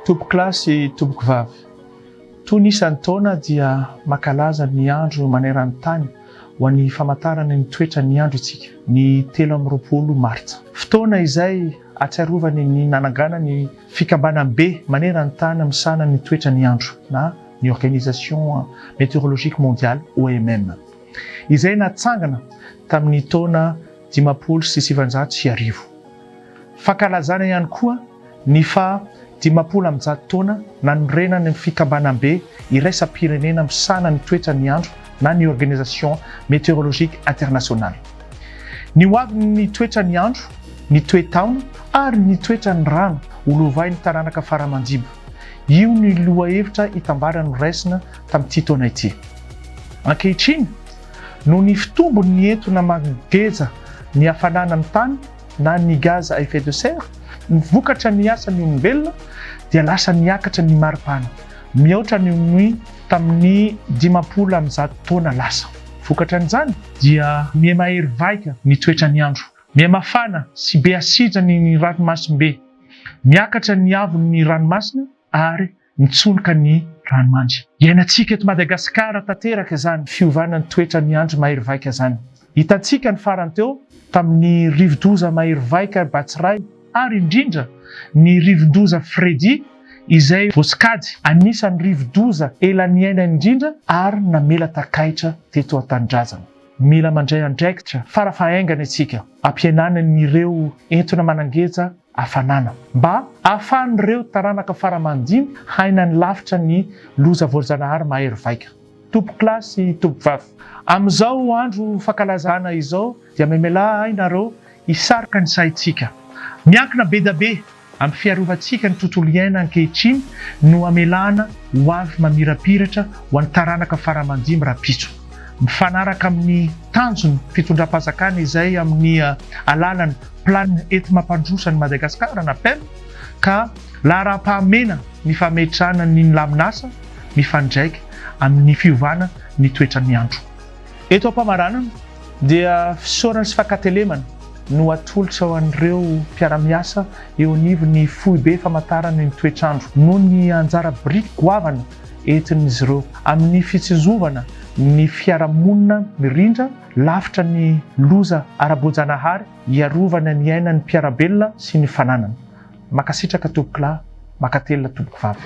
Tompokolahy sy tompokovavy, toy ny isan-taona dia mankalaza ny andro maneran'ny tany ho an'ny famantarana ny toetran'ny andro isika, ny telo amby roapolo martsa. Fotoana izay ahatsiarovany ny nanangana ny fikambanambe maneran'ny tany misahana ny toetran'ny andro na ny Organisation Meteorologique Mondiale, OMM. izay natsangana tamin'ny taona dimampolo sy sivinjato sy arivo. Fankalazana ihany koa ny faha dimampolo amby zato taona nanorenany ny Fikambanambe iraisam-pirenena misahana ny toetran'ny andro na ny Organisation Météorologique Internationale. Ny ho avin'ny toetran'ny andro, ny toe-taona ary ny toetran'ny rano ho lovain'ny taranaka fara aman-dibo, io ny lohahevitra itambara noraisina tamin'ity taona ity. Ankehitriny, noho ny fitombony ny entona mangeja ny hafanana amin'ny tany na ny gaz à effet de serre, ny vokatra ny asan'ny olombelona dia lasa niakatra ny maripana, mihoatra ny ny tamin'ny dimampolo amin'ny zato taona lasa. Vokatran'izany? Dia mihamahery vaika ny toetran'ny andro, mihamafana sy be asidra ny ny ranomasimbe, miakatra ny haavon'ny ranomasina ary Nitsoloka ny ranomandry. Iainantsika eto Madagasikara tanteraka izany fiovana ny toetra ny andry mahery vaika izany. Hitantsika ny farany teo tamin'ny rivodoza mahery vaika Batsirai ary indrindra ny rivodoza Freddy izay voasokajy anisan'ny rivodoza ela niaina indrindra ary namela takaitra teto an-tanindrazana. Mila mandray andraikitra fara fahaingana isika ampihenana ny ireo entona manangeja hafanana, mba ahafahan'ireo taranaka fara aman-dimy haina ny lafitra ny loza voajanahary mahery vaika. Tompokolahy sy tompovavy, amin'izao andro fankalazana izao dia memelà ahy nareo hisarika ny saintsika. Miankina be dia be amin'ny fiarovantsika ny tontolo iaina ankehitriny no amelana ho avy mamirapiratra ho an'ny taranaka fara aman-dimy rahampitso, mifanaraka amin'ny tanjon'ny fitondram-panjakana izay amin'ny alalan'ny. Plan ety Mampandroso an'i Madagasikara na pen ka laharam-pahamena ny fametrahana ny nilamin'asa mifandraika amin'ny fiovana ny toetran'ny andro. Eto am-pamaranana dia fisaorana sy fankatelemana no atolotra ho an'ireo mpiara-miasa eo anivon'ny Foibe Famantarana ny Toetr'andro noho ny anjara biriky goavana entin'izy ireo amin'ny fitsinjovana ny fiarahamonina mirindra lavitra ny loza ara-boajanahary hiarovana ny ainan'ny mpiara-belona sy ny fananana. Makasitraka tompoko lahy, makatelina tompoko vavy.